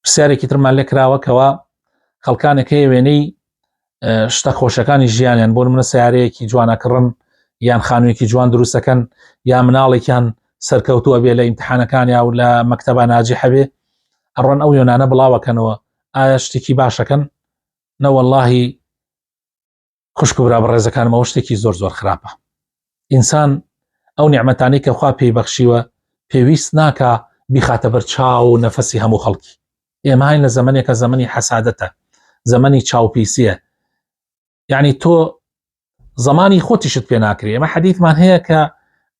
پرسیارێکی ترمان لێ کراوەکەوە خەڵکانێک هەیە وێنەی شتە خۆشەکانی ژیانیان بۆ منە سیارەیەکی جوانەکڕن یان خانوویەکی جوان دروستەکەن یا مناڵێکیان سەرکەوتووە بێ لە ئیمتحانەکان یا و لە مەکتتەبە ناجی حەبێ ئەڕۆن ئەو یۆنانە بڵاوەکەنەوە ئایا شتێکی باشەکەن نەوەلهی خوشک و برا بەڕێزەکانمەوە شتێکی زۆر زۆر خراپە ئینسان ئەو نیعممەتانی کە خوا پێی بەخشیوە پێویست ناکە بیخاتە بەر چاو و نەفەسی هەموو خەڵکی ئێمەهاین لە زمانێکە زمانی حەسادەتە زمانی چاوپیسیە یعنی تۆ زمانی خۆتیشت پێ ناکرێ ئەمە حەدیثمان هەیە کە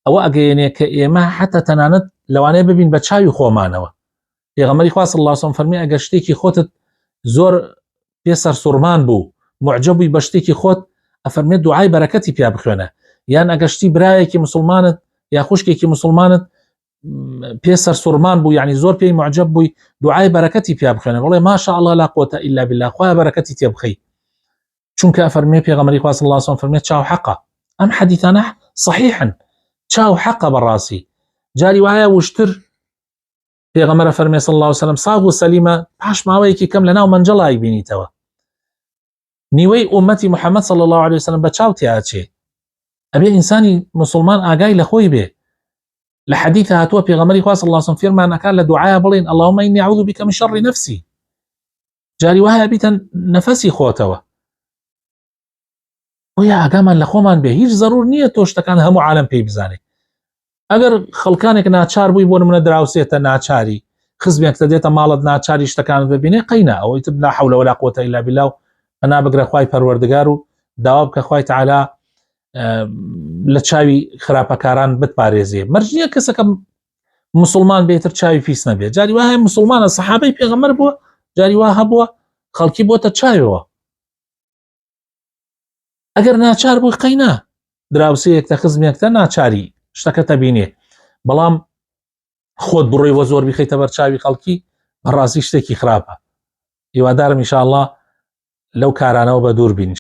ئەوە ئەگەیەنێ کە ئێمە حتا تەنانەت لەوانەیە ببین بە چاوی خۆمانەوە پێغەمەری خوا صلی الله علیه و سلم فەرمی ئەگەر شتێکی خۆتت زۆر پێ سەرسوڕمان بوو معجە بووی بە شتێکی خۆت ئەفەرمێت دوعای بەرەکەتی پیا بخوێنە یان ئەگەشتی برایەکی مسلمانت یا خوشکێکی مسلمانت پێ سەرسوڕمان بوو یعنی زۆر پێی معجە بووی دوعای بەرەکەتی پیا بخوێنە بڵێ ماشاء الله لا قوتە إلا بالله خوا بەرەکەتی تێ بخەی چونکە فەرمی پێغەمەری خواست الله سم فەرمێت چاو حەقا ئەم حەدیتانە صحیحن چاو حەقە بەڕاستی جاری وایە وشتر پێغەمەرە فەرمێ صلی الله وسلم ساغ و سەلیمە پاش ماوەیەکی کەم لەناو منجڵای بینیتەوە نیوەی ئومەتی محەممەد صلی الله عليه وسلم بە چاوتیاچێ ئەبێ ئینسانی مسلمان ئاگای لە خۆی بێ لە حەدیث هاتووە پێغەمەری خواست اللهسم فێرمانەکە لە دوعاە بڵین اللهمە ئینی عوض بکەم شەڕی نفسی جاری وایە بیتەن نەفەسی خۆتەوە بۆیە ئاگامان لە خۆمان بێ هیچ زەرور نییە تۆ شتەکان هەموو عالم پێی بزانێت ئەگەر خەڵکانێک ناچار بووی بۆ منە دراوسێتە ناچاری خزمێکتە دێتە ماڵت ناچاری شتەکانت ببینێ قەینا ئەوەی تر ناحولە ولا قوتە ئیلا بلا و ئەنا بگرە خی پەروەردگار و داوا بکە خی تعالا لە چاوی خراپەکاران بتپارێزیێ مەرجە کەسەکەم مسلمان بێتتر چاوی پیس نەبێت جاری وایە مسلمانە سەحابەی پێغەمەر بووە جاری وا هەبووە خەڵکی بۆتە چاوەوە ئەگەر ناچار بووی قەینا دراوسەیەک تە خزمێکتە ناچاری شتەکە تەبینێ بەڵام خۆت بڕۆی وە زۆر بخیتە بەر چاوی خەڵکی بەڕاستی شتێکی خراپە هیوادارم انشاءله لەو کارانەوە بە دوور بین